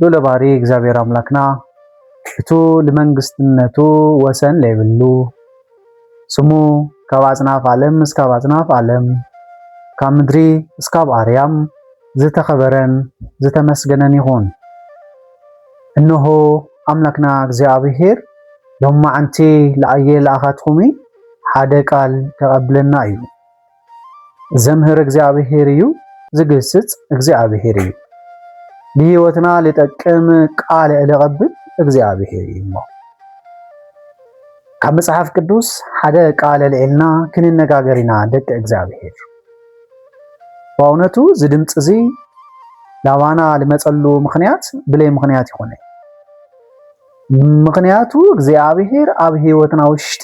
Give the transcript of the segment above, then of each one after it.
ሉለ ባህሪ እግዚኣብሔር ኣምላክና እቱ ልመንግስትነቱ ወሰን ለይብሉ ስሙ ካብ ኣፅናፍ ኣለም እስካብ ኣፅናፍ ኣለም ካብ ምድሪ እስካብ ኣርያም ዝተኸበረን ዝተመስገነን ይኹን። እነሆ ኣምላክና እግዚኣብሔር ሎማዓንቲ ለኣየ ለኣኻትኹሚ ሓደ ቃል ከቐብለና እዩ። ዘምህር እግዚኣብሔር እዩ፣ ዝግስጽ እግዚኣብሔር እዩ። ንህይወትና ሊጠቅም ቃል ለቐብል እግዚኣብሔር እዩ እሞ ካብ መጽሓፍ ቅዱስ ሓደ ቃል ልዕልና ክንነጋገር ኢና ደቂ እግዚኣብሔር። በእውነቱ እዚ ድምፂ እዚ ላባና ልመፀሉ ምክንያት ብለይ ምክንያት ይኾነ ምክንያቱ እግዚኣብሔር ኣብ ህይወትና ውሽጢ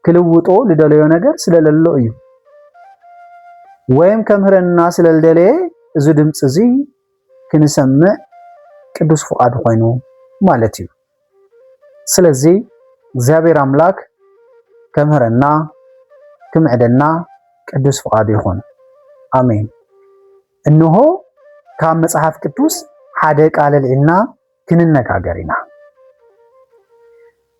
ክልውጦ ልደለዮ ነገር ስለለሎ እዩ ወይም ከምህረና ስለልደለየ እዚ ድምፂ እዚ ክንሰምዕ ቅዱስ ፍቃዱ ኮይኑ ማለት እዩ። ስለዚ እግዚኣብሔር ኣምላክ ከምህረና ክምዕደና ቅዱስ ፍቃዱ ይኹን። ኣሜን። እንሆ ካብ መጽሓፍ ቅዱስ ሓደ ቃል ኣልዒልና ክንነጋገር ኢና።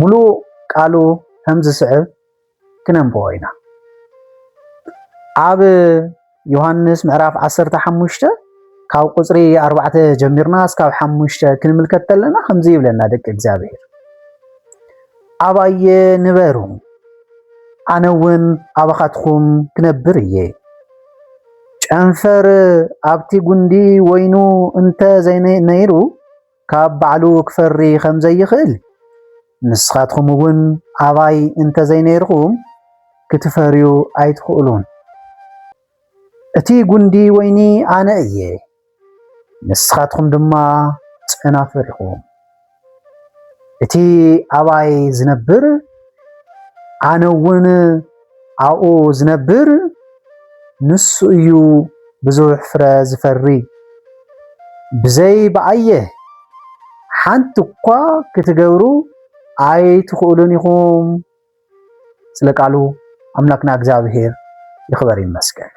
ምሉእ ቃሉ ከም ዝስዕብ ክነንብቦ ኢና። ኣብ ዮሃንስ ምዕራፍ 15 ካብ ቁፅሪ 4 ጀሚርና እስካብ 5 ክንምልከት ተለና ከምዚ ይብለና ደቂ እግዚኣብሔር ኣባየ ንበሩ ኣነ እውን ኣባኻትኩም ክነብር እየ ጨንፈር ኣብቲ ጉንዲ ወይኑ እንተ ዘይነይሩ ካብ ባዕሉ ክፈሪ ከም ዘይኽእል ንስኻትኹም እውን ኣባይ እንተዘይነይርኹም ክትፈርዩ ኣይትኽእሉን። እቲ ጉንዲ ወይኒ ኣነ እየ፣ ንስኻትኹም ድማ ጨናፍር ኢኹም። እቲ ኣባይ ዝነብር ኣነ እውን ኣብኡ ዝነብር ንሱ እዩ ብዙሕ ፍረ ዝፈሪ። ብዘይ ብኣየ ሓንቲ እኳ ክትገብሩ ኣይትኽእሉን ኢኹም። ስለ ቃሉ ኣምላክና እግዚኣብሄር ይኽበር ይመስገን።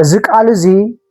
እዚ ቃል እዚ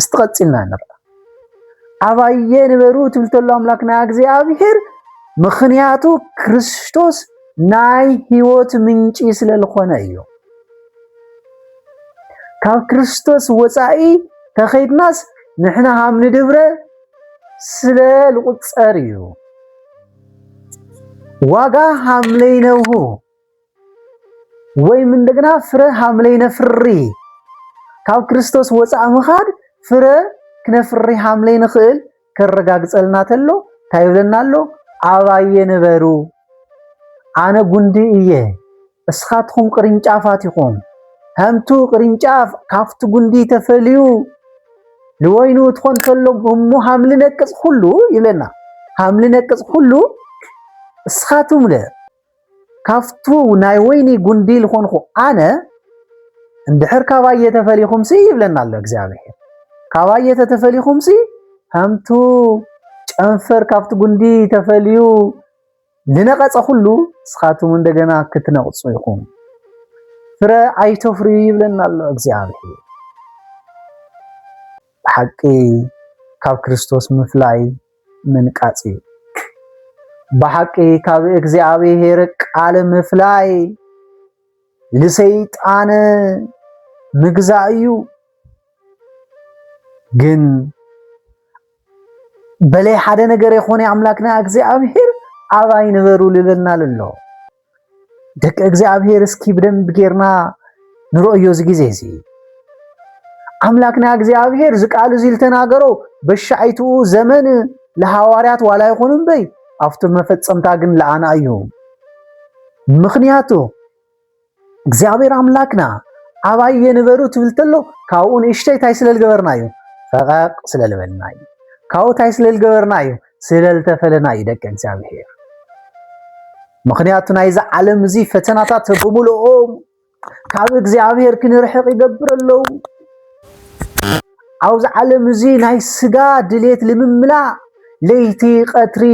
እስቲ ቀፂልና ንርኣ ኣባየ ንበሩ ትብል ተሎ ኣምላክ ናይ እግዚኣብሔር ምክንያቱ ክርስቶስ ናይ ህይወት ምንጪ ስለ ዝኾነ እዩ ካብ ክርስቶስ ወፃኢ ተኸይድናስ ንሕና ሃም ንድብረ ስለ ልቁፀር እዩ ዋጋ ሃምለይነብሁ ወይም እንደገና ፍረ ሃምለ ይነፍሪ ካብ ክርስቶስ ወፃእ ምኻድ ፍረ ክነፍሪ ሃምለ ንኽእል ከረጋግፀልና ተሎ እንታይ ይብለና ኣሎ? ኣባየ ንበሩ ኣነ ጉንዲ እየ እስኻትኹም ቅርንጫፋት ኢኹም። ከምቱ ቅርንጫፍ ካብቲ ጉንዲ ተፈልዩ ልወይኑ ትኾን ተሎ እሞ ሃምሊ ነቅፅ ኩሉ ይብለና ሃምሊ ነቅፅ ኩሉ እስኻትኩም ለ ካብቱ ናይ ወይኒ ጉንዲ ልኾንኹ ኣነ እንድሕር ካባየ ተፈሊኹምሲ ይብለና ኣሎ እግዚኣብሔር ካባየ ተተፈሊኹምሲ ከምቱ ጨንፈር ካብቲ ጉንዲ ተፈልዩ ዝነቐጸ ኩሉ ንስኻትኩም እንደገና ክትነቕጹ ኢኹም። ፍረ ኣይተፍርዩ ይብለና ኣሎ እግዚኣብሔር። ብሓቂ ካብ ክርስቶስ ምፍላይ ምንቃጽ እዩ። ብሓቂ ካብ እግዚኣብሔር ቃል ምፍላይ ልሰይጣን ምግዛእ እዩ። ግን በለይ ሓደ ነገር የኾነ ኣምላክና እግዚኣብሔር ኣባይ ንበሩ ልበልና ኣሎ። ደቂ እግዚኣብሔር እስኪ ብደንብ ጌርና ንረእዮ እዚ ጊዜ እዚ ኣምላክና እግዚኣብሔር እዚ ቃል እዚ ዝተናገሮ በሻይትኡ ዘመን ለሃዋርያት ዋላ ይኹን እምበይ ኣብቲ መፈጸምታ ግን ለኣና እዩ ምክንያቱ እግዚኣብሔር ኣምላክና ኣባይ የንበሩ ትብል ተሎ ካብኡ ንእሽተይ ታይ ስለ ዝገበርና እዩ ፈቐቕ ስለ ዝበልና እዩ ካብኡ ታይ ስለ ዝገበርና እዩ ስለልተፈለና እዩ ደቂ እግዚኣብሔር ምክንያቱ ናይዚ ዓለም እዚ ፈተናታት ብምልኦም ካብ እግዚኣብሔር ክንርሕቕ ይገብር ኣለዉ ኣብዚ ዓለም እዚ ናይ ስጋ ድሌት ልምምላእ ለይቲ ቀትሪ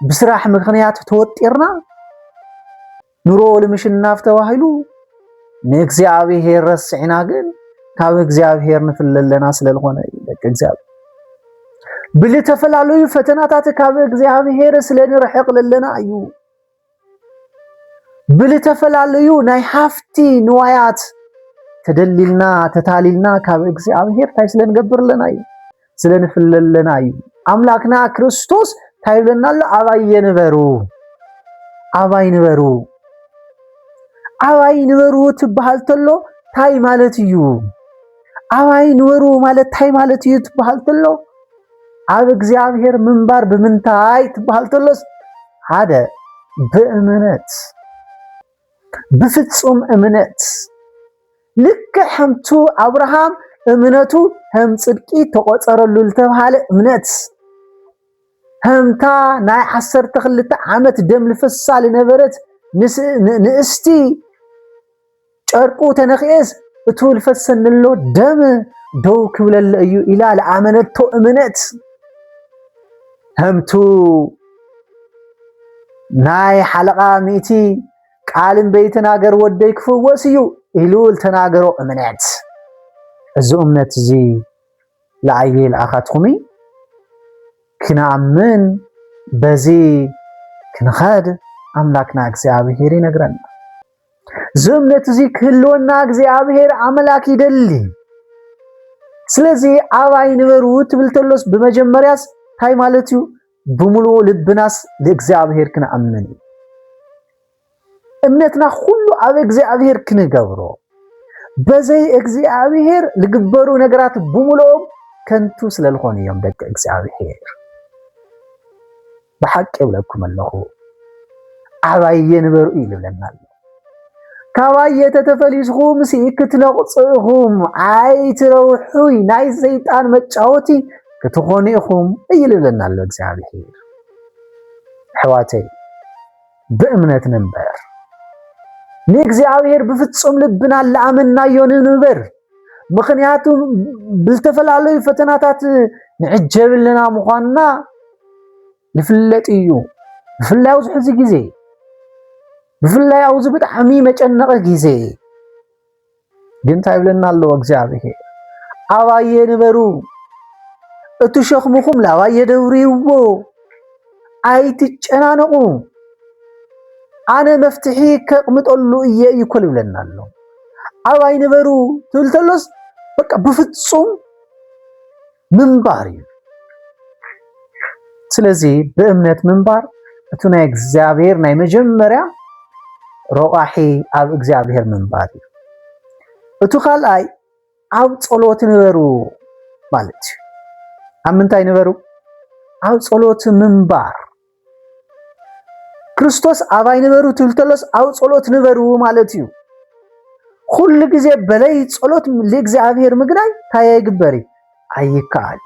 ብስራሕ ምክንያት ተወጢርና ኑሮ ልምሽናፍ ተባሂሉ ንእግዚኣብሔር ረሲዕና ግን ካብ እግዚኣብሔር ንፍለ ኣለና ስለዝኾነ እዩ ደቂ እግዚኣብሔር ብልተፈላለዩ ፈተናታት ካብ እግዚኣብሔር ስለ ንርሕቕ ለለና እዩ ብልተፈላለዩ ናይ ሃፍቲ ንዋያት ተደሊልና ተታሊልና ካብ እግዚኣብሔር እንታይ ስለ ንገብር ኣለና እዩ ስለ ንፍለለና እዩ ኣምላክና ክርስቶስ እንታይ ይብለና ኣሎ ኣባይ የንበሩ ኣባይ ንበሩ ኣባይ ንበሩ ትበሃል ተሎ ታይ ማለት እዩ ኣባይ ንበሩ ማለት ታይ ማለት እዩ ትበሃል ተሎ ኣብ እግዚኣብሔር ምንባር ብምንታይ ትበሃል ተሎስ ሓደ ብእምነት ብፍጹም እምነት ልክዕ ከምቱ ኣብርሃም እምነቱ ከም ጽድቂ ተቖጸረሉ ዝተብሃለ እምነት ከምታ ናይ ዓሰርተ ክልተ ዓመት ደም ልፍሳ ዝነበረት ንእስቲ ጨርቁ ተነክኤስ እቱ ልፈሰንሎ ደም ደው ክብለለ እዩ ኢላ ለኣመነቶ እምነት ከምቱ ናይ ሓለቓ ሚእቲ ቃል እምበይትናገር ወደይ ክፍወስ እዩ ኢሉ ዝተናገሮ እምነት እዚ እምነት እዚ ለኣየ ልኣኻትኹሚ ክነኣምን በዚ ክንኸድ ኣምላክና እግዚኣብሄር ይነግረና እዚ እምነት እዚ ክህልወና እግዚኣብሄር ኣምላክ ይደሊ ስለዚ ኣባይ ንበሩ ትብል ተሎስ ብመጀመርያስ እንታይ ማለት እዩ ብምሉኡ ልብናስ ንእግዚኣብሔር ክንኣምን እዩ። እምነትና ኩሉ ኣብ እግዚኣብሔር ክንገብሮ በዘይ እግዚኣብሔር ዝግበሩ ነገራት ብምሉኦም ከንቱ ስለ ዝኾኑ እዮም ደቂ እግዚኣብሔር። ብሓቂ ይብለኩም ኣለኹ ዓባየ ንበሩ እዩ ዝብለና ኣሎ። ካባዬ ተተፈሊስኹም ሲ ክትነቕጹ ኢኹም ኣይትረውሑይ ናይ ሰይጣን መጫወቲ ክትኾኑ ኢኹም እዩ ልብለና ኣሎ እግዚኣብሔር። ኣሕዋተይ ብእምነት ንንበር፣ ንእግዚኣብሔር ብፍጹም ልብና ለኣመናዮ ንንበር። ምክንያቱ ብዝተፈላለዩ ፈተናታት ንዕጀብልና ምዃንና ይፍለጥ እዩ ብፍላይ ኣብዚ ሕዚ ግዜ ብፍላይ ኣብዚ ብጣዕሚ መጨነቂ ግዜ ግን እንታይ ይብለና ኣሎ እግዚኣብሄር ኣባየ ንበሩ እቲ ሸኽምኹም ላባየ ደብርይዎ ኣይትጨናነቑ ኣነ መፍትሒ ከቕምጠሉ እየ እዩ ኮል ይብለና ኣሎ ኣባይ ንበሩ ትብል ተሎስ በቃ ብፍፁም ምንባር እዩ ስለዚ ብእምነት ምንባር እቲ ናይ እግዚኣብሔር ናይ መጀመርያ ረቋሒ ኣብ እግዚኣብሔር ምንባር እዩ እቲ ካልኣይ ኣብ ፀሎት ንበሩ ማለት እዩ ኣብ ምንታይ ንበሩ ኣብ ፀሎት ምንባር ክርስቶስ ኣባይ ንበሩ ትብል ተሎስ ኣብ ጸሎት ንበሩ ማለት እዩ። ኩሉ ግዜ በለይ ጸሎት ልእግዚኣብሔር ምግናይ እንታይ ኣይግበር እዩ ኣይከኣል።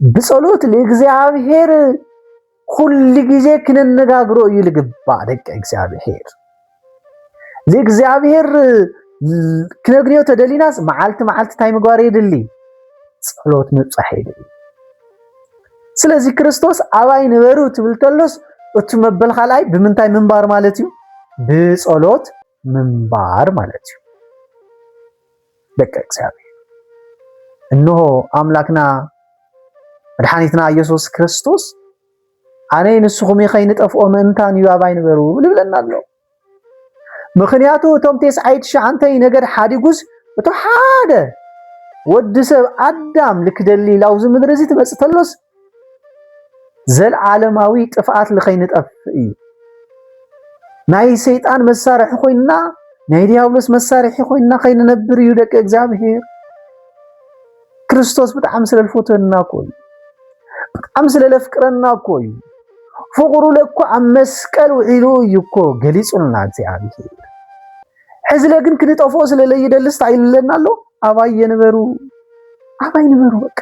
ብጸሎት ልእግዚኣብሔር ኩሉ ግዜ ክነነጋግሮ እዩ ልግባእ ደቂ እግዚኣብሔር። እግዚኣብሔር ክነግንዮ ተደሊናስ መዓልቲ መዓልቲ እንታይ ምግባር የድሊ? ጸሎት ምብጻሕ የድሊ። ስለዚ ክርስቶስ ኣባይ ንበሩ ትብል ተሎስ እቲ መበል ካልኣይ ብምንታይ ምንባር ማለት እዩ? ብጸሎት ምንባር ማለት እዩ። ደቂ እግዚኣብሔር እነሆ ኣምላክና መድሓኒትና ኢየሱስ ክርስቶስ ኣነይ ንስኹም ከይንጠፍኦ ምእንታን እዩ ኣባይ ንበሩ ልብለና ኣሎ ምኽንያቱ እቶም ቴስዓይ ትሽዓንተይ ነገድ ሓዲጉስ እቶ ሓደ ወዲ ሰብ ኣዳም ልክደሊ ላውዚ ምድሪ እዚ ትመፅእ ተሎስ ዘልዓለማዊ ጥፍኣት ልኸይንጠፍእ እዩ ናይ ሰይጣን መሳርሒ ኮይንና ናይ ዲያብሎስ መሳርሒ ኮይንና ከይንነብር እዩ ደቂ እግዚኣብሄር ክርስቶስ ብጣዕሚ ስለ ዝፈትወና እኮ እዩ። ብጣዕሚ ስለ ዘፍቅረና እኮ እዩ። ፍቕሩ ለኮ ኣብ መስቀል ውዒሉ እዩ እኮ ገሊጹልና እግዚኣብሔር። ሕዝለ ግን ክንጠፍኦ ስለ ለይደልስ እንታይ ይብለና ኣሎ? ኣባይ የንበሩ ኣባይ ንበሩ በቃ።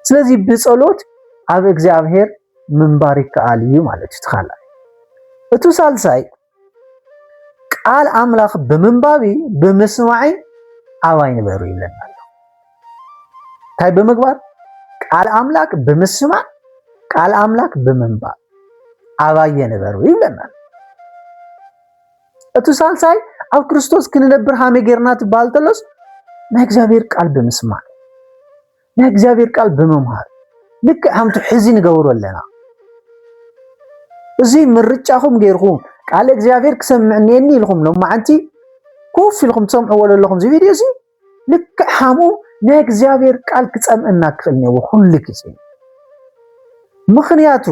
ስለዚ ብጸሎት ኣብ እግዚኣብሔር ምንባር ይከኣል እዩ ማለት እዩ። እቲ ካልኣይ እቱ ሳልሳይ ቃል ኣምላኽ ብምንባብ ብምስማዕ ኣባይ ንበሩ ይብለና ኣሎ። እንታይ ብምግባር ቃል ኣምላክ ብምስማዕ ቃል ኣምላክ ብምንባብ ኣባየ ንበሩ ይብለና። እቲ ሳልሳይ ኣብ ክርስቶስ ክንነብር ሃመ ጌርና ትበሃል ተሎስ ናይ እግዚኣብሔር ቃል ብምስማዕ ናይ እግዚኣብሔር ቃል ብምምሃር ልክዕ ከምቲ ሕዚ ንገብሮ ኣለና እዚ ምርጫኹም ገይርኩም ቃል እግዚኣብሔር ክሰምዕ እኒኤኒ ኢልኩም ሎማዓንቲ ኮፍ ኢልኩም ትሰምዕዎ ዘለኹም እዚ ቪድዮ እዚ ልክዕ ከምኡ ናይ እግዚኣብሔር ቃል ክፀምእና ክኽእል እኒዎ ኩሉ ግዜ ምክንያቱ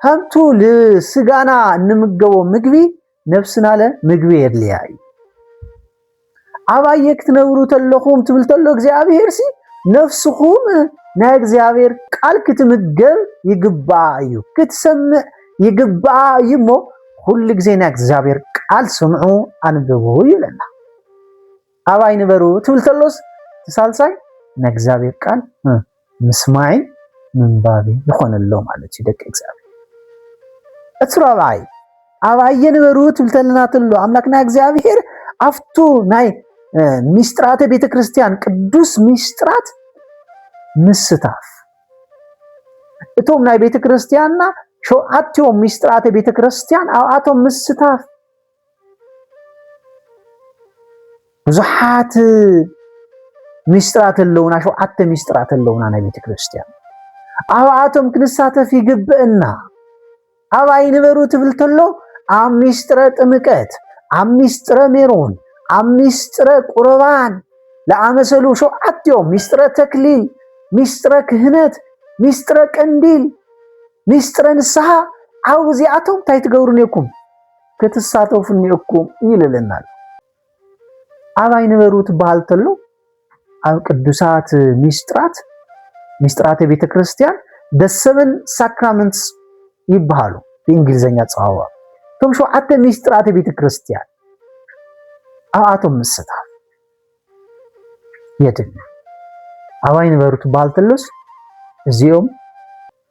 ከምቱ ልስጋና እንምገቦ ምግቢ ነብስናለ ምግቢ የድልያ እዩ ኣባየ ክትነብሩ ተለኹም ትብል ተሎ እግዚኣብሔር ሲ ነፍስኹም ናይ እግዚኣብሔር ቃል ክትምገብ ይግባኣ እዩ ክትሰምዕ ይግባኣ እዩ እሞ ኩሉ ግዜ ናይ እግዚኣብሔር ቃል ስምዑ ኣንብቡ ይብለና ኣባይ ንበሩ ትብል ተሎስ ሳልሳይ ናይ እግዚኣብሔር ቃል ምስማዒ ምንባቢ ይኾነሎ ማለት እዩ ደቂ እግዚኣብሔር እቲ ራብዓይ ኣብ ኣየ ንበሩ ትብልተልና ተሎ ኣምላክና እግዚኣብሄር ኣብቱ ናይ ሚስጥራተ ቤተ ክርስቲያን ቅዱስ ሚስጥራት ምስታፍ እቶም ናይ ቤተ ክርስቲያንና ሸውዓትኦም ሚስጥራተ ቤተ ክርስቲያን ኣብኣቶም ምስታፍ ብዙሓት ሚስጥራት ኣለውና፣ ሸውዓተ ሚስጥራት ኣለውና ናይ ቤተ ክርስቲያን ኣብኣቶም ክንሳተፍ ይግብእና። ኣብ ኣይንበሩ ትብል ተሎ ኣብ ሚስጥረ ጥምቀት፣ ኣብ ሚስጥረ ሜሮን፣ ኣብ ሚስጥረ ቁርባን ለኣመሰሉ ሸውዓት እዮም። ሚስጥረ ተክሊል፣ ሚስጥረ ክህነት፣ ሚስጥረ ቀንዲል፣ ሚስጥረ ንስሓ ዓው እዚኣቶም እንታይ ትገብሩ ነኩም? ክትሳተፉ እኒኦኩም ይልልና ኣሎ ኣባይ ንበሩ ትበሃል ተሎ ኣብ ቅዱሳት ሚስጥራት ሚስጥራተ ቤተ ክርስቲያን ደሰበን ሳክራመንትስ ይበሃሉ ብእንግሊዝኛ ፀዋዋ እቶም ሸውዓተ ሚስጥራተ ቤተ ክርስቲያን ኣብኣቶም ምስታፍ የድል ኣባይ ንበሩ ትበሃል ተሎስ እዚኦም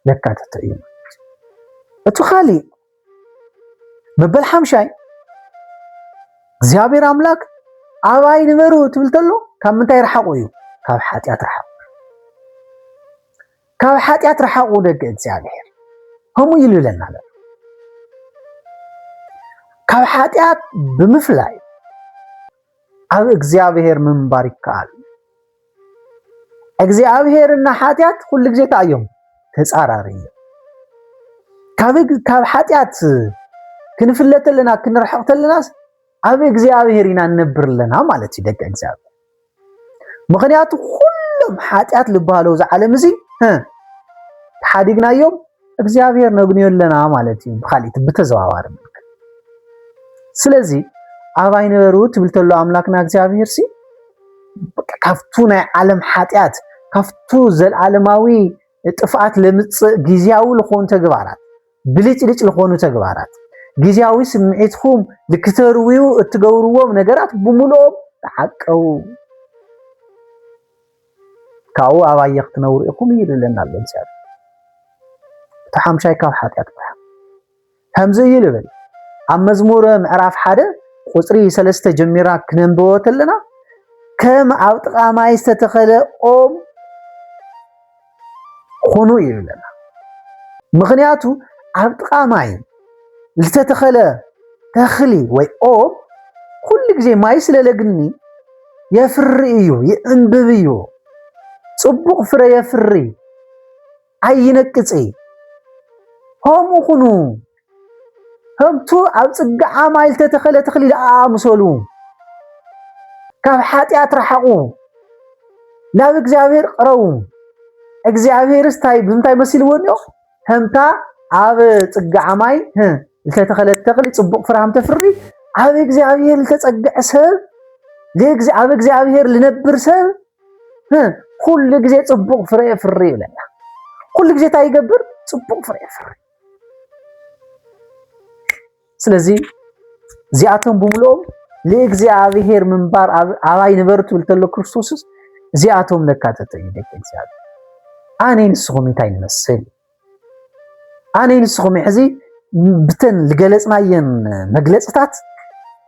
ለካተተ እዩ እቲ ካሊእ መበል ሓምሻይ እግዚኣብሔር ኣምላክ ኣባይ ንበሩ ትብል ተሎ ካብ ምንታይ ረሓቁ እዩ ካብ ሓጢኣት ረሓቁ ካብ ሓጢኣት ረሓቁ ደቂ እግዚኣብሔር ከምኡ ኢሉ ይብለና ኣሎ ካብ ሓጢኣት ብምፍላይ ኣብ እግዚኣብሔር ምንባር ይከኣል እግዚኣብሄርና ሓጢኣት ኩሉ ግዜ እንታይ እዮም ተፃራሪ እዮም ካብ ሓጢኣት ክንፍለ ተለና ክንርሕቕ ተለናስ ኣብ እግዚኣብሄር ኢና ንነብር ኣለና ማለት እዩ ደቂ እግዚኣብሄር ምክንያቱ ኩሎም ሓጢኣት ዝበሃለው እዚ ዓለም እዚ ተሓዲግናዮም እግዚኣብሔር ነግንዮ ኣለና ማለት እዩ ብካሊእ ብተዘዋዋሪ መልክዕ ስለዚ ኣባይ ንበሩ ትብል ተሎ ኣምላክና እግዚኣብሔር ሲ ካብቱ ናይ ዓለም ሓጢኣት ካብቱ ዘልዓለማዊ ጥፍኣት ለምፅእ ግዜያዊ ዝኾኑ ተግባራት ብልጭልጭ ዝኾኑ ተግባራት ግዜያዊ ስምዒትኩም ልክተርውዩ እትገብርዎም ነገራት ብምልኦም ተዓቀቡ ካብኡ ኣባየ ክትነብሩ ኢኹም እዩ ልብለና ኣሎ እግዚኣብሔር እቲ ሓምሻይ ካብ ሓጢኣት ምርሓቕ ከምዚ እዩ ልብል ኣብ መዝሙረ ምዕራፍ ሓደ ቁፅሪ ሰለስተ ጀሚራ ክነንብቦ ተለና ከም ኣብ ጥቓ ማይ ዝተተኸለ ኦም ኹኑ ይብለና። ምኽንያቱ ኣብ ጥቓ ማይ ዝተተኸለ ተኽሊ ወይ ኦም ኩሉ ግዜ ማይ ስለ ለግኒ የፍሪ እዩ፣ ይዕንብብ እዩ፣ ጽቡቕ ፍረ የፍሪ፣ ኣይነቅጽ ከምኡ ኹኑ ከምቱ ኣብ ጽግዓ ማይ ዝተተኸለ ተኽሊ ደኣ ምሰሉ። ካብ ሓጢኣት ረሓቑ፣ ናብ እግዚኣብሔር ቅረቡ። እግዚኣብሔርስ ታይ ብምንታይ መሲልዎ እኒኦ ከምታ ኣብ ፅግዓ ማይ ዝተተኸለት ተኽሊ ፅቡቅ ፍራም ተፍሪ ኣብ እግዚኣብሔር ዝተፀግዐ ሰብ ኣብ እግዚኣብሔር ልነብር ሰብ ኩሉ ግዜ ፅቡቅ ፍረ የፍሪ ይብለና። ኩሉ ግዜ እንታይ ይገብር? ፅቡቅ ፍረ የፍሪ። ስለዚ እዚኣቶም ብምልኦም ንእግዚኣብሔር ምንባር ኣባይ ንበር ትብል ተሎ ክርስቶስስ እዚኣቶም ነካተተ እዩ ደቂ እግዚኣብሔር ኣነ ንስኹም እንታይ ንመስል ኣነ ንስኹም ሕዚ ብተን ዝገለፅናየን መግለፅታት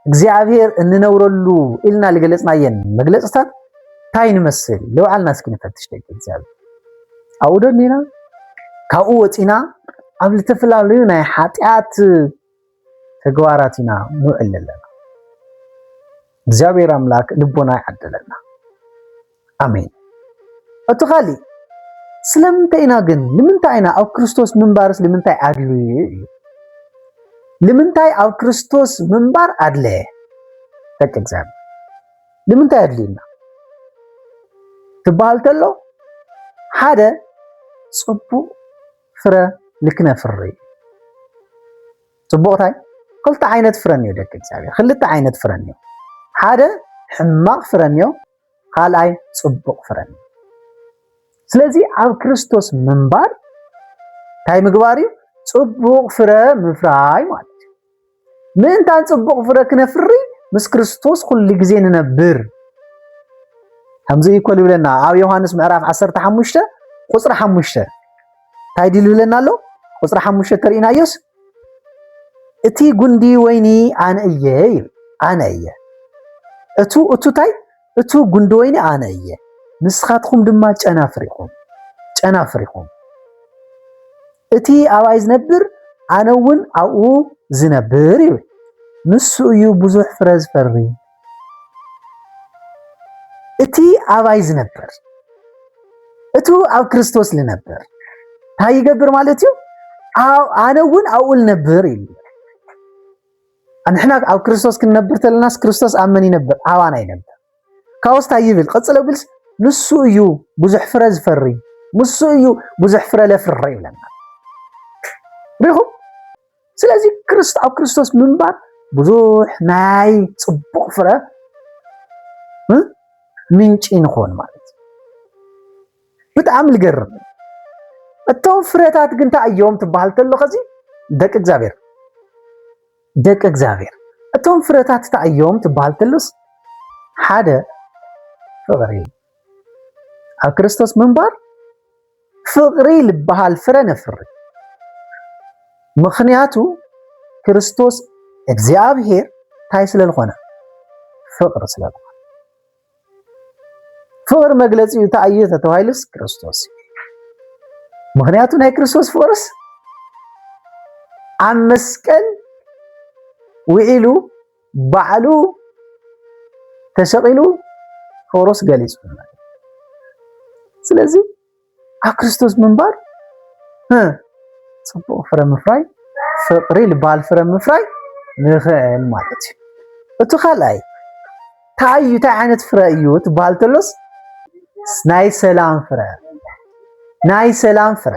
እግዚኣብሔር እንነብረሉ ኢልና ዝገለፅናየን መግለፅታት እንታይ ንመስል ለውዓልና እስኪ ንፈትሽ ደቂ እግዚኣብሔር ኣብኡ ደሊና ካብኡ ወፂና ኣብ ዝተፈላለዩ ናይ ሓጢኣት ተግባራት ኢና ንውዕል ኣለና። እግዚኣብሔር ኣምላክ ልቦና ይዓደለና። ኣሜን። እቲ ካሊእ ስለምንታይ ኢና ግን ንምንታይ ኢና ኣብ ክርስቶስ ምንባርስ ንምንታይ ኣድልዩ እዩ? ንምንታይ ኣብ ክርስቶስ ምንባር ኣድለየ? ደቂ እግዚኣብሔር ንምንታይ ኣድልዩና ትበሃል ተሎ ሓደ ፅቡቕ ፍረ ንክነፍሪ ፅቡቕ ታይ ክልተ ዓይነት ፍረ እኒኦ ደቂ እግዚኣብሔር ክልተ ዓይነት ፍረ እኒኦ ሓደ ሕማቕ ፍረ እኒኦ ካልኣይ ፅቡቕ ፍረ እኒኦ ስለዚ ኣብ ክርስቶስ ምንባር እንታይ ምግባር እዩ ፅቡቕ ፍረ ምፍራይ ማለት እዩ ምእንታን ጽቡቕ ፍረ ክነፍሪ ምስ ክርስቶስ ኩሉ ግዜ ንነብር ከምዚ እዩ ኮል ይብለና ኣብ ዮሃንስ ምዕራፍ 15 ቁፅሪ 5 እንታይ ድል ይብለና ኣሎ ቁፅሪ 5 ተርእናዮስ እቲ ጉንዲ ወይኒ ኣነ እየ እዩ ኣነ እየ እቱ እቱ እንታይ እቱ ጉንዲ ወይኒ ኣነ እየ ንስኻትኹም ድማ ጨናፍር ኢኹም ጨናፍር ኢኹም እቲ ኣብኣይ ዝነብር ኣነ እውን ኣብኡ ዝነብር ይብል ንሱ እዩ ብዙሕ ፍረ ዝፈሪ እቲ ኣባይ ዝነብር እቱ ኣብ ክርስቶስ ዝነብር እንታይ ይገብር ማለት እዩ ኣነ እውን ኣብኡ ልነብር እዩ ኣንሕና ኣብ ክርስቶስ ክንነብር ተለናስ ክርስቶስ ኣብ መን ይነብር? ኣባና ይነብር። ካብኡስ እንታይ ይብል? ቀጽሎ ቢልስ ንሱ እዩ ብዙሕ ፍረ ዝፈሪ፣ ንሱ እዩ ብዙሕ ፍረ ለፍሪ ይብለና። ሪኹም ስለዚ ክርስቶ ኣብ ክርስቶስ ምንባር ብዙሕ ናይ ጽቡቕ ፍረ ምንጪ ንኾን ማለት ብጣዕሚ ልገርም እቶም ፍረታት ግን እንታይ እዮም ትበሃል ተሎ ከዚ ደቂ እግዚኣብሔር ደቂ እግዚኣብሔር እቶም ፍረታት እንታይ እዮም ትበሃል ተሎስ ሓደ ፍቕሪ ኣብ ክርስቶስ ምንባር ፍቕሪ ልበሃል ፍረ ነፍሪ ምክንያቱ ክርስቶስ እግዚኣብሔር እንታይ ስለዝኾነ ፍቕሪ ስለዝኾነ ፍቕሪ መግለፂኡ እንታይ እዩ ተተባሂሉስ ክርስቶስ እዩ። ምክንያቱ ናይ ክርስቶስ ፍቕርስ ኣብ መስቀል ውዒሉ ባዕሉ ተሰቒሉ ፍቕሩስ ገሊፁ ስለዚ ኣብ ክርስቶስ ምንባር ፅቡቕ ፍረ ምፍራይ ፍቕሪ ልባል ፍረ ምፍራይ ንኽእል ማለት እዩ እቲ ካልኣይ እንታይ እዩ እንታይ ዓይነት ፍረ እዩ ትበሃል ተሎስ ናይ ሰላም ፍረ ናይ ሰላም ፍረ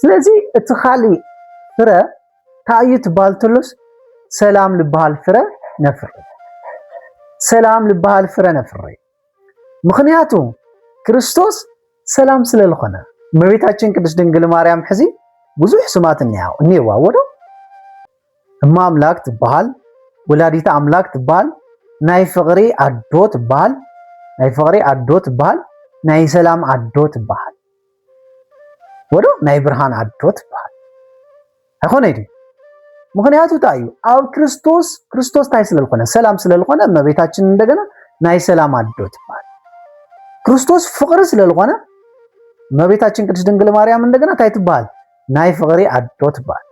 ስለዚ እቲ ካልእ ፍረ እንታይ እዩ ትበሃል ተሎስ ሰላም ልበሃል ፍረ ነፍሪ ሰላም ልበሃል ፍረ ነፍሪ ምክንያቱ ክርስቶስ ሰላም ስለ ልኾነ እመቤታችን ቅድስት ድንግል ማርያም ሕዚ ብዙሕ ስማት እኒየዋ ወዶ እማ ኣምላክ ትበሃል ወላዲተ ኣምላክ ትበሃል ናይ ፍቅሪ ኣዶ ትበሃል ናይ ፍቅሪ ኣዶ ትበሃል ናይ ሰላም ኣዶ ትበሃል ወዶ ናይ ብርሃን ኣዶ ትበሃል ኣይኮነ ድዩ? ምክንያቱ እንታይ እዩ ኣብ ክርስቶስ ክርስቶስ እንታይ ስለዝኮነ ሰላም ስለዝኮነ እመቤታችን እንደገና ናይ ሰላም ኣዶ ትበሃል። ክርስቶስ ፍቅሪ ስለዝኮነ እመቤታችን ቅድስት ድንግል ማርያም እንደገና እንታይ ትበሃል? ናይ ፍቅሪ ኣዶ ትበሃል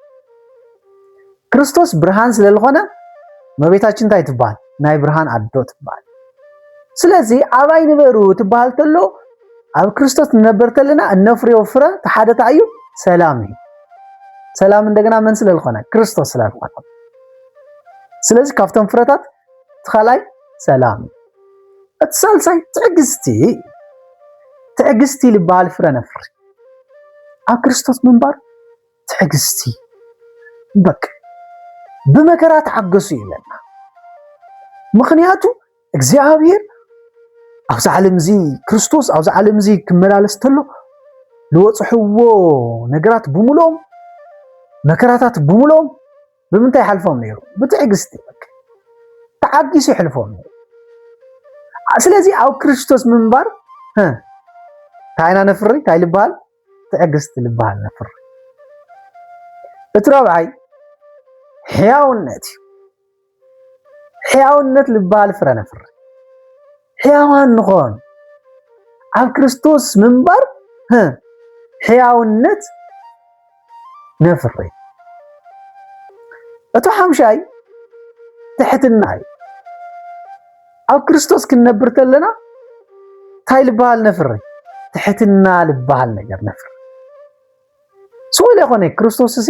ክርስቶስ ብርሃን ስለ ዝኾነ መቤታችን እንታይ ትበሃል ናይ ብርሃን ኣዶ ትበሃል ስለዚ ኣባይ ንበሩ ትበሃል ተሎ ኣብ ክርስቶስ ንነበር ተለና እነፍርዮ ፍረ ተሓደታ እዩ ሰላም እዩ ሰላም እንደገና መን ስለ ዝኾነ ክርስቶስ ስለ ዝኾነ ስለዚ ካብቶም ፍረታት ትኻላይ ሰላም እዩ እቲ ሳልሳይ ትዕግስቲ ትዕግስቲ ዝበሃል ፍረ ነፍሪ ኣብ ክርስቶስ ምንባር ትዕግስቲ በቅ ብመከራ ተዓገሱ ይብለና። ምክንያቱ እግዚኣብሔር ኣብዚ ዓለም እዚ ክርስቶስ ኣብዚ ዓለም እዚ ክመላለስ ተሎ ዝወፅሕዎ ነገራት ብምሎም መከራታት ብምሎም ብምንታይ ይሓልፎም ነይሩ? ብትዕግስቲ ተዓጊሱ ይሕልፎም ነይሩ። ስለዚ ኣብ ክርስቶስ ምንባር እንታይ ኢና ነፍሪ? እንታይ ልበሃል? ትዕግስቲ ልበሃል ነፍሪ። እቲ ረብዓይ ሕያውነት እዩ። ሕያውነት ልበሃል ፍረ ነፍሪ። ሕያዋን ንኾን ኣብ ክርስቶስ ምንባር ሕያውነት ነፍሪ። እቱ ሓምሻይ ትሕትና እዩ። ኣብ ክርስቶስ ክንነብር ተለና እንታይ ልበሃል ነፍሪ? ትሕትና ልበሃል ነገር ነፍሪ። ስኡል የኾነ ክርስቶስ እዚ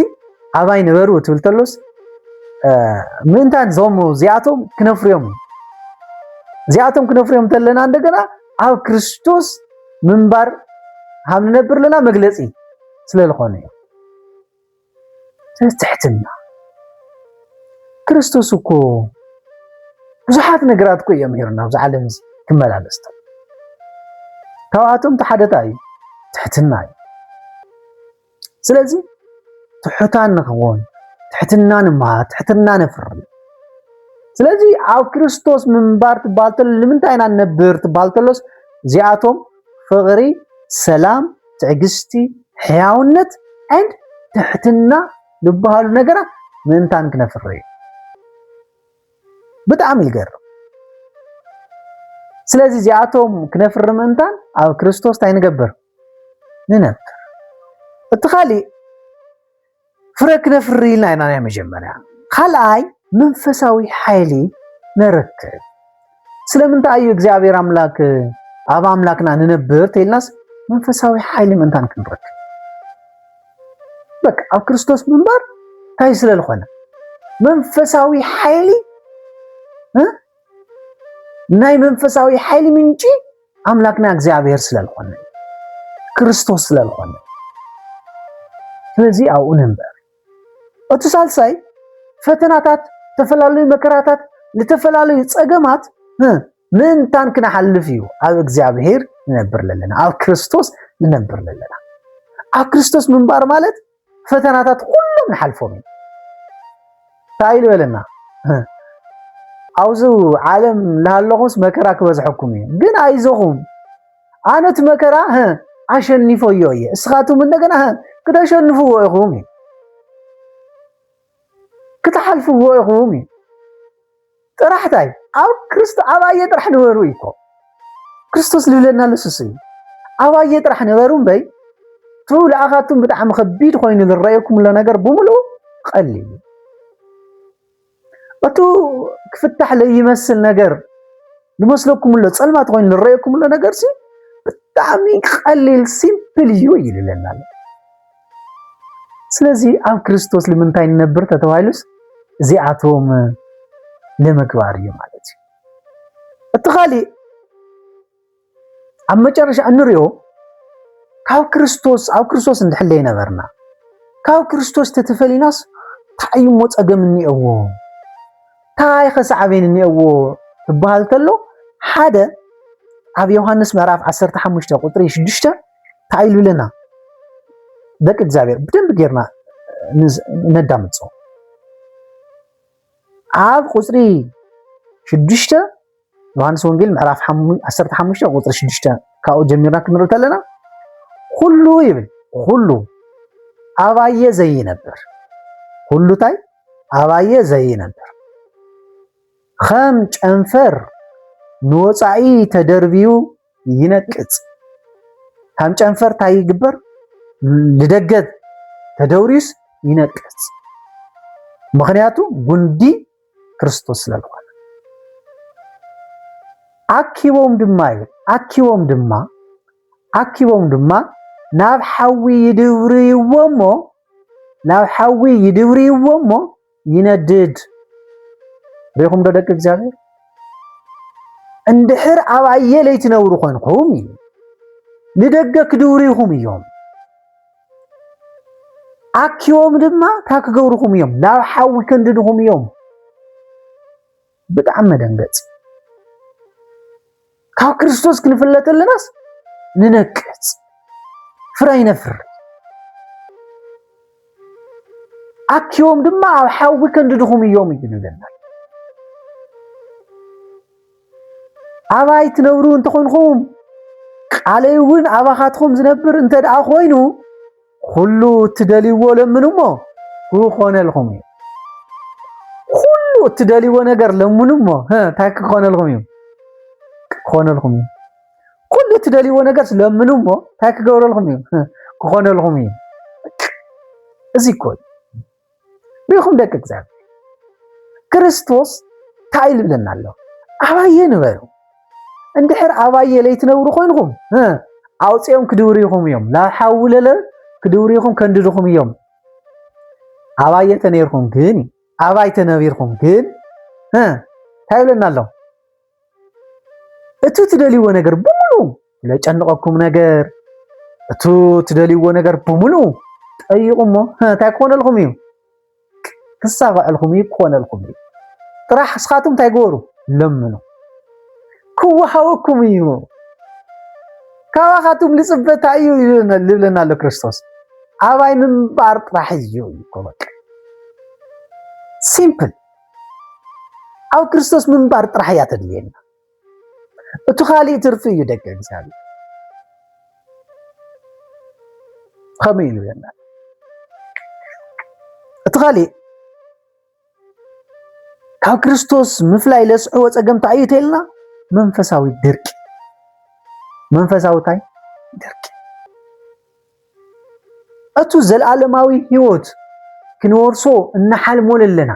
ኣባይ ንበሩ ትብል ተሎስ ምእንታን ዞም እዚኣቶም ክነፍርዮም እዩ እዚኣቶም ክነፍርዮም ተለና እንደገና ኣብ ክርስቶስ ምንባር ሃም ንነብር ኣለና መግለፂ ስለልኾነ እዩ። ስለዚ ትሕትና ክርስቶስ እኮ ብዙሓት ነገራት እኮ እዮም ሂሩና ኣብዚ ዓለም እዚ ክመላለስቶ ካብኣቶም ተሓደታ እዩ ትሕትና እዩ። ስለዚ ትሑታን ንኽውን ትሕትና ንመሃር ትሕትና ነፍሪ ስለዚ ኣብ ክርስቶስ ምንባር ትበሃል ተሎ ንምንታይ ኢና ንነብር ትበሃል ተሎስ እዚኣቶም ፍቕሪ፣ ሰላም፣ ትዕግስቲ፣ ሕያውነት and ትሕትና ዝበሃሉ ነገራት ምእንታን ክነፍሪ እዩ። ብጣዕሚ ይገርም። ስለዚ እዚኣቶም ክነፍሪ ምእንታን ኣብ ክርስቶስ እንታይ ንገብር ንነብር። እቲ ካሊእ ፍረ ክነፍሪ ኢልና ኢና ናይ መጀመርያ። ካልኣይ መንፈሳዊ ሓይሊ ነረክብ። ስለምንታይ እዩ እግዚኣብሔር ኣምላክ ኣብ ኣምላክና ንነብር ተይልናስ መንፈሳዊ ሓይሊ ምእንታን ክንረክብ በቃ ኣብ ክርስቶስ ምንባር እንታይ ስለ ዝኾነ መንፈሳዊ ሓይሊ ናይ መንፈሳዊ ሓይሊ ምንጪ ኣምላክና እግዚኣብሔር ስለልኾነ ክርስቶስ ስለልኾነ ስለዚ ኣብኡ ነንበር እቲ ሳልሳይ ፈተናታት ዝተፈላለዩ መከራታት ዝተፈላለዩ ፀገማት ምእንታን ክነሓልፍ እዩ ኣብ እግዚኣብሔር ንነብር ለለና ኣብ ክርስቶስ ንነብር ለለና ኣብ ክርስቶስ ምንባር ማለት ፈተናታት ኩሎም ንሓልፎም ኢና እንታይ ኢሉ በለና ኣብዚ ዓለም ላሃለኹምስ መከራ ክበዝሐኩም እዩ ግን ኣይዞኹም ኣነት መከራ ኣሸኒፎዮ እየ እስኻትኩም እንደገና ክተሸንፍዎ ኢኹም እዩ ክትሓልፍዎ ኢኹም እዩ ጥራሕ ታይ ኣብ ክርስቶ ኣባየ ጥራሕ ንበሩ እዩ እኮ ክርስቶስ ዝብለና ለሱስ እዩ ኣባየ ጥራሕ ንበሩ እምበይ እቲ ለኣኻቱም ብጣዕሚ ከቢድ ኮይኑ ዝረኣየኩም ዘሎ ነገር ብምሉኡ ቀሊል እዩ እቱ ክፍታሕ ለይመስል ነገር ዝመስለኩም ኣሎ ፀልማት ኮይኑ ዝረኣየኩም ኣሎ ነገር ሲ ብጣዕሚ ቀሊል ሲምፕል እዩ ይልለና ኣሎ ስለዚ ኣብ ክርስቶስ ልምንታይ ንነብር ተተባሂሉስ እዚኣቶም ንምግባር እዩ ማለት እዩ እቲ ካሊእ ኣብ መጨረሻ እንሪኦ ካብ ክርስቶስ ኣብ ክርስቶስ እንድሕለ ይነበርና ካብ ክርስቶስ ተተፈሊናስ እንታይ እሞ ፀገም እኒኦዎ እንታይ ከሰዓበን እኒኦዎ ትበሃል ተሎ ሓደ ኣብ ዮሃንስ ምዕራፍ 15 ቁጥሪ 6 እንታይ ኢሉ ኣለና ደቂ እግዚኣብሔር ብደንብ ጌርና ነዳምፆ ኣብ ቁፅሪ ሽዱሽተ ዮሃንስ ወንጌል ምዕራፍ 15 ቁፅሪ ሽዱሽተ ካብኡ ጀሚርና ክንርኢ ከለና ኩሉ ይብል ኩሉ ኣባየ ዘይነብር ኩሉ ታይ ኣባየ ዘይነብር ከም ጨንፈር ንወፃኢ ተደርብዩ ይነቅጽ ከም ጨንፈር ታይ ይግበር ልደገ ተደውሪዩስ ይነቅጽ ምክንያቱ ጉንዲ ክርስቶስ ስለዝኾነ ኣኪቦም ድማ እዩ ኣኪቦም ድማ ኣኪቦም ድማ ናብ ሓዊ ይድብርይዎ እሞ ናብ ሓዊ ይድብርይዎ እሞ ይነድድ ሪኹም ዶ ደቂ እግዚኣብሔር እንድሕር ኣብ ኣየለይ ትነብሩ ኮንኩም እዩ ንደገ ክድውሪኹም እዮም ኣኪቦም ድማ ካብ ክገብርኹም እዮም ናብ ሓዊ ከንድድኹም እዮም ብጣዕሚ መደንገፂ ካብ ክርስቶስ ክንፍለ ከለናስ ንነቅፅ ፍረ ይነፍር ኣኪቦም ድማ ኣብ ሓዊ ከንድድኹም እዮም እዩ ንብለና ኣባይ ትነብሩ እንተኾንኹም ቃለይ እውን ኣባኻትኹም ዝነብር እንተ ደኣ ኮይኑ ዅሉ እትደልይዎ ለምኑ እሞ ክኾነልኩም እዩ። ዅሉ እትደልይዎ ነገር ለምኑ እሞ እንታይ ክኾነልኩም እዩ? ክኾነልኩም እዩ። ኵሉ እትደልይዎ ነገር ለምኑ እሞ እንታይ ክገብረልኩም እዩ? ክኾነልኩም እዩ። እዚ እኮ እዩ ሪኹም ደቂ እግዚኣብሔር ክርስቶስ እንታይ ይብለና ኣሎ ኣባየ ንበሩ እንድሕር ኣባየ ለይትነብሩ ኮይንኹም ኣውፅኦም ክድውሪኹም እዮም ናብ ሓዊ ለለ ክድውሪኹም ከንድድኹም እዮም ኣባየ ተነይርኩም ግን ኣባይ ተነቢርኩም ግን እንታይ ይብለና ኣሎ እቱ ትደልይዎ ነገር ብምሉ ለጨንቐኩም ነገር እቱ ትደልይዎ ነገር ብምሉ ጠይቑ እሞ እንታይ ክኾነልኩም እዩ ክሳኸዐልኩም እዩ ክኾነልኩም እዩ ጥራሕ እስኻትኩም እንታይ ገበሩ ለምኑ ክወሃወኩም እዩ ካባኻትኩም ልፅበታ እዩ ልብለና ኣሎ ክርስቶስ ኣባይ ምንባር ጥራሕ እዩ ይኮበቅ ሲምፕል ኣብ ክርስቶስ ምንባር ጥራሕ እያ ተድልየና እቲ ካሊእ ትርፊ እዩ ደቂ እግዚኣብሔር ከመይ ኢሉ የና እቲ ካሊእ ካብ ክርስቶስ ምፍላይ ለስዕዎ ፀገም እንታይ እዩ ተልና መንፈሳዊ ድርቂ መንፈሳዊ እንታይ ድርቂ እቱ ዘልኣለማዊ ህይወት ክንወርሶ እናሓልሞ ለለና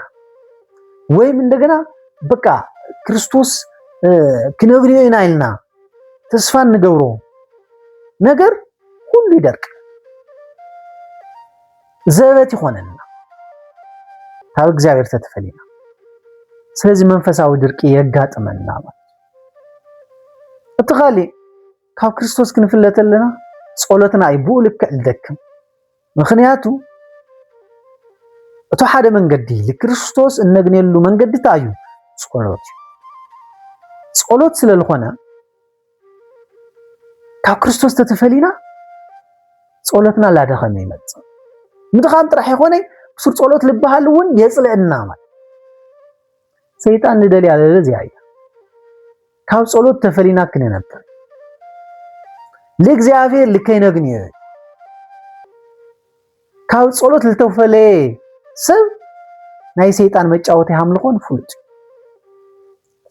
ወይም እንደገና በቃ ክርስቶስ ክነግሪዮ ኢና ኢልና ተስፋ እንገብሮ ነገር ሁሉ ይደርቅ ዘበት ይኾነልና ካብ እግዚኣብሔር ተተፈሊና ስለዚ መንፈሳዊ ድርቂ የጋጥመና ማለት እቲ ካሊእ ካብ ክርስቶስ ክንፍለ ተለና ጸሎትና እዩ ብኡ ልክዕ ዝደክም ምክንያቱ እቶ ሓደ መንገዲ ንክርስቶስ እነግንየሉ መንገዲ እንታይ እዩ ጸሎት እዩ ጸሎት ስለ ዝኾነ ካብ ክርስቶስ ተተፈሊና ጸሎትና ላደኸመ ይመጽእ ምድኻም ጥራሕ ይኾነ ብሱር ጸሎት ልበሃል እውን የጽልእና ማለት ሰይጣን ንደልያ ለለ እዚኣ እዩ ካብ ጸሎት ተፈሊና ክነነብር ልእግዚኣብሔር ልከይ ነግንዮ ካብ ጸሎት ልተፈለየ ሰብ ናይ ሰይጣን መጫወቲ ሃምልኾን ፍሉጥ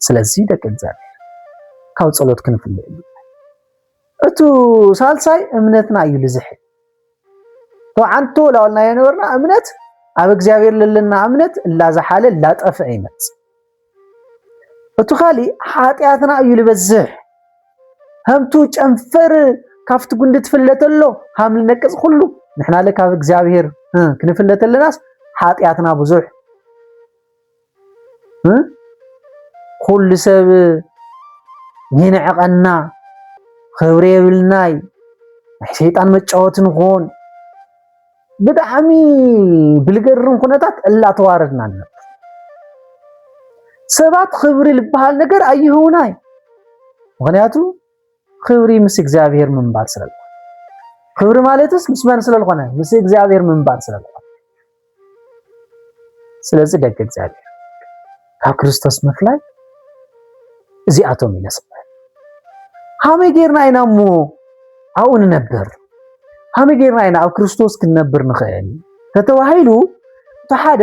ስለዚ ደቂ እግዚኣብሔር ካብ ጸሎት ክንፍለ እዩ እቱ ሳልሳይ እምነትና እዩ ልዝሕል ተዓንቶ ላወልና የነበርና እምነት ኣብ እግዚኣብሔር ለለና እምነት እላዝሓለ እላጠፍዐ ይመጽእ እቱ ካሊእ ሓጢኣትና እዩ ዝበዝሕ ከምቱ ጨንፈር ካብቲ ጉንዲ ትፍለተሎ ሃም ልነቅፅ ኩሉ ንሕና ለ ካብ እግዚኣብሔር ክንፍለተለናስ ሓጢኣትና ብዙሕ ኩሉ ሰብ ይንዕቐና ክብሪ የብልናይ ናይ ሰይጣን መጫወቲ ንኾን ብጣዕሚ ብልገርም ኩነታት እላተዋረድና ኣሎ። ሰባት ክብሪ ዝበሃል ነገር ኣይህቡና እዩ። ምክንያቱ ክብሪ ምስ እግዚኣብሔር ምንባር ስለልኮነ ክብሪ ማለትስ ምስ መን ስለልኮነ ምስ እግዚኣብሔር ምንባር ስለልኮነ ስለዚ ደቂ እግዚኣብሔር ካብ ክርስቶስ ምፍላይ እዚኣቶም እዩ ለስምዐ ሃመይ ጌርና ኢና እሞ ኣብኡ ንነብር ሃመይ ጌርና ኢና ኣብ ክርስቶስ ክንነብር ንኽእል ተተባሂሉ እቲ ሓደ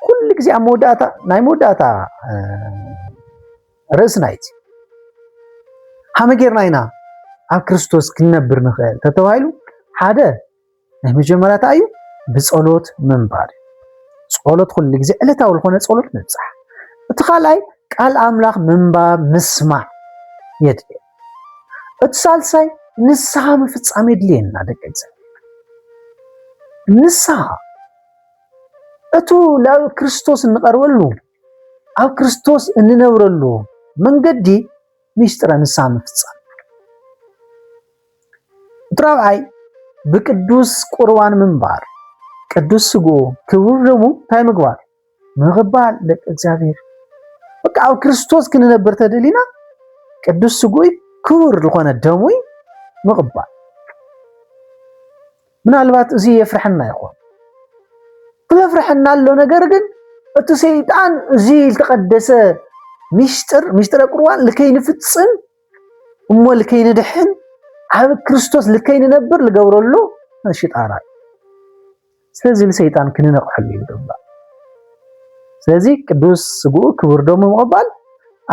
ኩሉ ግዜ ኣብ መወዳእታ ናይ መወዳእታ ርእስና እዩ ሃመይ ጌርና ኢና ኣብ ክርስቶስ ክንነብር ንኽእል ተተባሂሉ ሓደ ናይ መጀመርያ እንታይ እዩ ብጸሎት ምንባር ጸሎት ኩሉ ግዜ ዕለታዊ ዝኾነ ጸሎት ምብጻሕ እቲ ካልኣይ ቃል ኣምላኽ ምንባብ ምስማዕ የድልየ እቲ ሳልሳይ ንስሓ ምፍጻም የድልየና ደቂ እግዚኣብሔር ንስሓ እቱ ናብ ክርስቶስ እንቐርበሉ ኣብ ክርስቶስ እንነብረሉ መንገዲ ሚስጥረ ንስሓ ምፍጻም እቲ ራብዓይ ብቅዱስ ቁርባን ምንባር ቅዱስ ስግኡ ክቡር ደሙ እንታይ ምግባር ምቕባል ደቂ እግዚኣብሔር በቃ ኣብ ክርስቶስ ክንነብር ተደሊና ቅዱስ ስጉይ ክቡር ዝኾነ ደሙይ ምቕባል ምናልባት እዚ የፍርሐና ይኾን ዘፍርሐና ኣሎ ነገር ግን እቲ ሰይጣን እዚ ዝተቀደሰ ሚስጥር ሚስጥረ ቁርባን ልከይንፍፅም እሞ ልከይንድሕን ኣብ ክርስቶስ ልከይንነብር ልገብረሉ ሽጣራ እዩ ስለዚ ንሰይጣን ክንነቕሐሉ ይግባእ ስለዚ ቅዱስ ስግኡ ክቡር ደሙ ምቕባል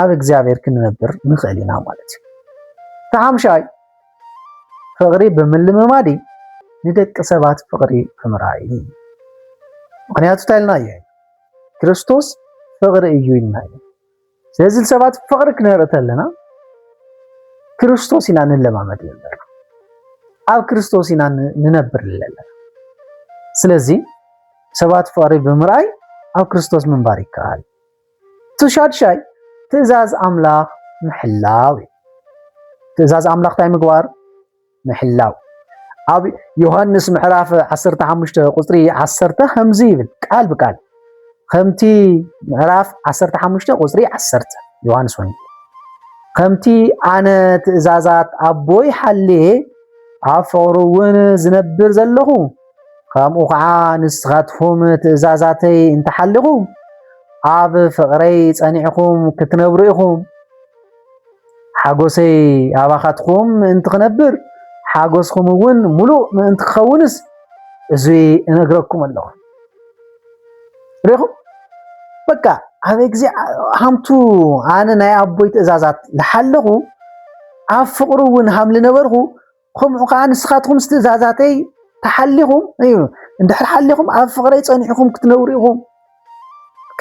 ኣብ እግዚኣብሔር ክንነብር ንኽእል ኢና ማለት እዩ እቲ ሓምሻይ ፍቕሪ ብምልምማድ ንደቂ ሰባት ፍቕሪ ብምርኣይ ምክንያቱ እንታይ ኢልና እየ ክርስቶስ ፍቕሪ እዩ ኢልና እዩ ስለዚ ሰባት ፍቕሪ ክነርኢ ተለና ክርስቶስ ኢና ንለማመድ ዘለና ኣብ ክርስቶስ ኢና ንነብር ዘለና። ስለዚ ሰባት ፍቕሪ ብምርኣይ ኣብ ክርስቶስ ምንባር ይከኣል። እቲ ሻድሻይ ትእዛዝ ኣምላኽ ምሕላው እዩ። ትእዛዝ ኣምላኽ እንታይ ምግባር? ምሕላው ኣብ ዮሃንስ ምዕራፍ 15 ቁፅሪ 10 ከምዚ ይብል ቃል ብቃል ከምቲ ምዕራፍ 15 ቁፅሪ 10 ዮሃንስ ወንጌል ከምቲ ኣነ ትእዛዛት ኣቦይ ሓልየ ኣብ ፍቕሩ እውን ዝነብር ዘለኹ ከምኡ ከዓ ንስኻትኩም ትእዛዛተይ እንተሓልኹም ኣብ ፍቕረይ ጸኒዕኹም ክትነብሩ ኢኹም ሓጎሰይ ኣባኻትኩም ምእንቲ ክነብር ሓጎስኩም እውን ሙሉእ ምእንቲ ክኸውንስ እዚ እነግረኩም ኣለኹ። ሪኹም በቃ ኣብ ግዜ ሃምቱ ኣነ ናይ ኣቦይ ትእዛዛት ልሓለኹ ኣብ ፍቕሩ እውን ሃም ልነበርኹ ኸምኡ ኸኣ ንስኻትኩም ምስ ትእዛዛተይ ተሓሊኹም እዩ እንድሕር ሓሊኹም ኣብ ፍቕረይ ጸኒዕኹም ክትነብሩ ኢኹም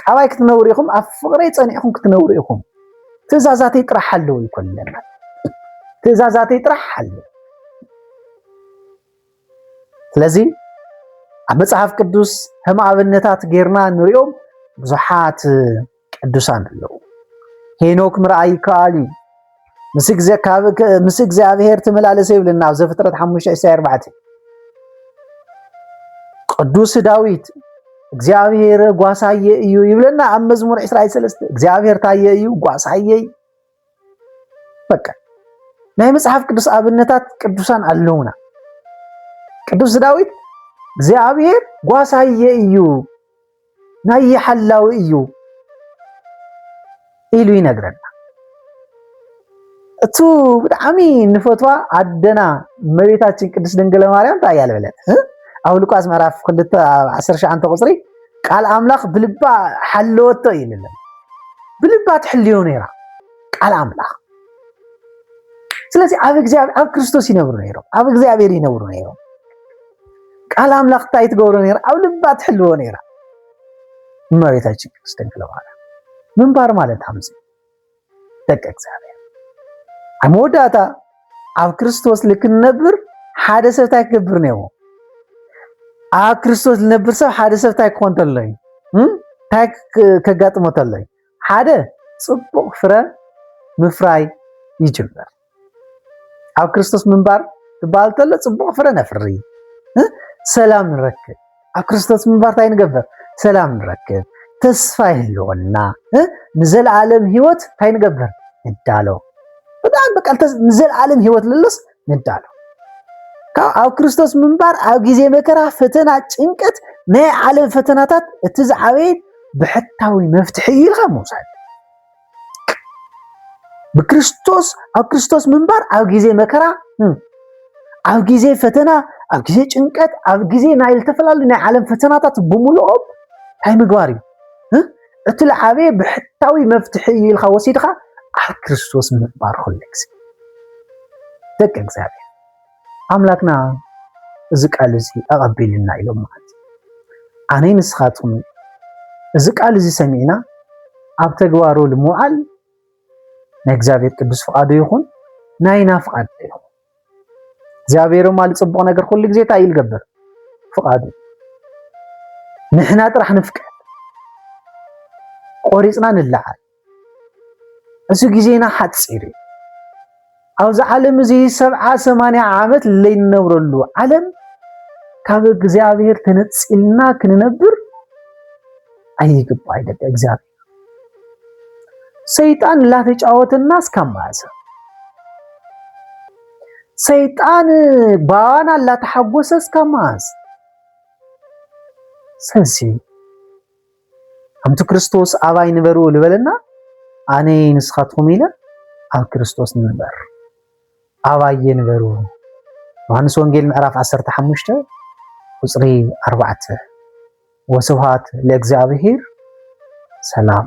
ካባይ ክትነብሩ ኢኹም ኣብ ፍቕረይ ጸኒዕኹም ክትነብሩ ኢኹም ትእዛዛተይ ጥራሕ ኣለዉ ይኮን ኣለና ትእዛዛተይ ጥራሕ ኣለዉ ስለዚ ኣብ መጽሓፍ ቅዱስ ከም ኣብነታት ጌርና ንሪኦም ብዙሓት ቅዱሳን ኣለዉ። ሄኖክ ምርኣይ ይከኣል እዩ። ምስ እግዚኣብሔር ትመላለሰ ይብልና ኣብ ዘፍጥረት 5:4 ቅዱስ ዳዊት እግዚኣብሔር ጓሳየ እዩ ይብለና ኣብ መዝሙር 23 እግዚኣብሔር ታየ እዩ ጓሳየይ በቃ ናይ መጽሓፍ ቅዱስ ኣብነታት ቅዱሳን ኣለውና። ቅዱስ ዳዊት እግዚኣብሔር ጓሳየ እዩ ናይ ሓላዊ እዩ ኢሉ ይነግረና። እቱ ብጣዕሚ ንፈትዋ ኣደና እመቤታችን ቅድስት ድንግል ማርያም እንታይ እያ ዝበለት? ኣብ ሉቃስ ምዕራፍ ክልተ ዓሰርተ ሸዓንተ ቁፅሪ ቃል ኣምላኽ ብልባ ሓለወቶ እዩ ልለን ብልባ ትሕልዮ ነይራ ቃል ኣምላኽ ስለዚ ኣብ እግዚኣብሔር ኣብ ክርስቶስ ይነብሩ ነይሮም ኣብ እግዚኣብሔር ይነብሩ ነይሮም ቃል ኣምላኽ እንታይ ትገብሮ ነይራ ኣብ ልባ ትሕልዎ ነይራ እመቤታችን ቅድስት ድንግል ማርያም ምንባር ማለት ኣምዚ ደቂ እግዚኣብሔር ኣብ መወዳእታ ኣብ ክርስቶስ ልክንነብር ሓደ ሰብ እንታይ ክገብር ነይዎ ኣብ ክርስቶስ ዝነብር ሰብ ሓደ ሰብ እንታይ ክኾን ተሎ እዩ እንታይ ከጋጥሞ ተሎ እዩ ሓደ ፅቡቕ ፍረ ምፍራይ ይጅምር ኣብ ክርስቶስ ምንባር ዝበሃል ከሎ ፅቡቕ ፍረ ነፍሪ ሰላም ንረክብ ኣብ ክርስቶስ ምንባር እንታይ ንገብር ሰላም ንረክብ ተስፋ ይህልወና ንዘለዓለም ህይወት እንታይ ንገብር ንዳሎ ብጣዕሚ በቃ ንዘለዓለም ህይወት ልሎስ ንዳሎ ካብ ኣብ ክርስቶስ ምንባር ኣብ ግዜ መከራ ፈተና ጭንቀት ናይ ዓለም ፈተናታት እቲ ዝዓበየ ብሕታዊ መፍትሒ እዩ ኢልካ ምውሳድ ብክርስቶስ ኣብ ክርስቶስ ምንባር ኣብ ግዜ መከራ ኣብ ግዜ ፈተና ኣብ ግዜ ጭንቀት ኣብ ግዜ ናይ ዝተፈላለዩ ናይ ዓለም ፈተናታት ብምልኦም እንታይ ምግባር እዩ እቲ ልዓበየ ብሕታዊ መፍትሒ እዩ ኢልካ ወሲድካ ኣብ ክርስቶስ ምንባር ኩሉ ግዜ ደቂ እግዚኣብሔር ኣምላክና እዚ ቃል እዚ ኣቐቢሉና ኢሎም ማለት ኣነይ ንስኻትኩም እዚ ቃል እዚ ሰሚዕና ኣብ ተግባሩ ንምውዓል ናይ እግዚኣብሔር ቅዱስ ፍቃዱ ይኹን ናይና ፍቃድ ይኹን እግዚኣብሔር ማል ፅቡቅ ነገር ኩሉ ግዜ እንታይ እዩ ልገብር ፍቃዱ ንሕና ጥራሕ ንፍቀድ ቆሪፅና ንለዓል እዚ ግዜና ሓጺር እዩ። ኣብዚ ዓለም እዚ ሰብዓ ሰማንያ ዓመት ለይንነብረሉ ዓለም ካብ እግዚኣብሔር ተነጺልና ክንነብር ኣይግባይ ደቂ እግዚኣብሔር ሰይጣን ላተጫወተና እስካብ መዓሰ ሰይጣን ባዋና ላተሓጎሰ እስካብ መዓስ ሰሲ ከምቲ ክርስቶስ ኣባይ ንበሩ ዝበለና ኣነ ንስኻትኩም ኢለ ኣብ ክርስቶስ ንበር ኣባየ ንበሩ ዮሐንስ ወንጌል ምዕራፍ 15 ቁጽሪ 4 ወስብሃት ለእግዚኣብሔር ሰላም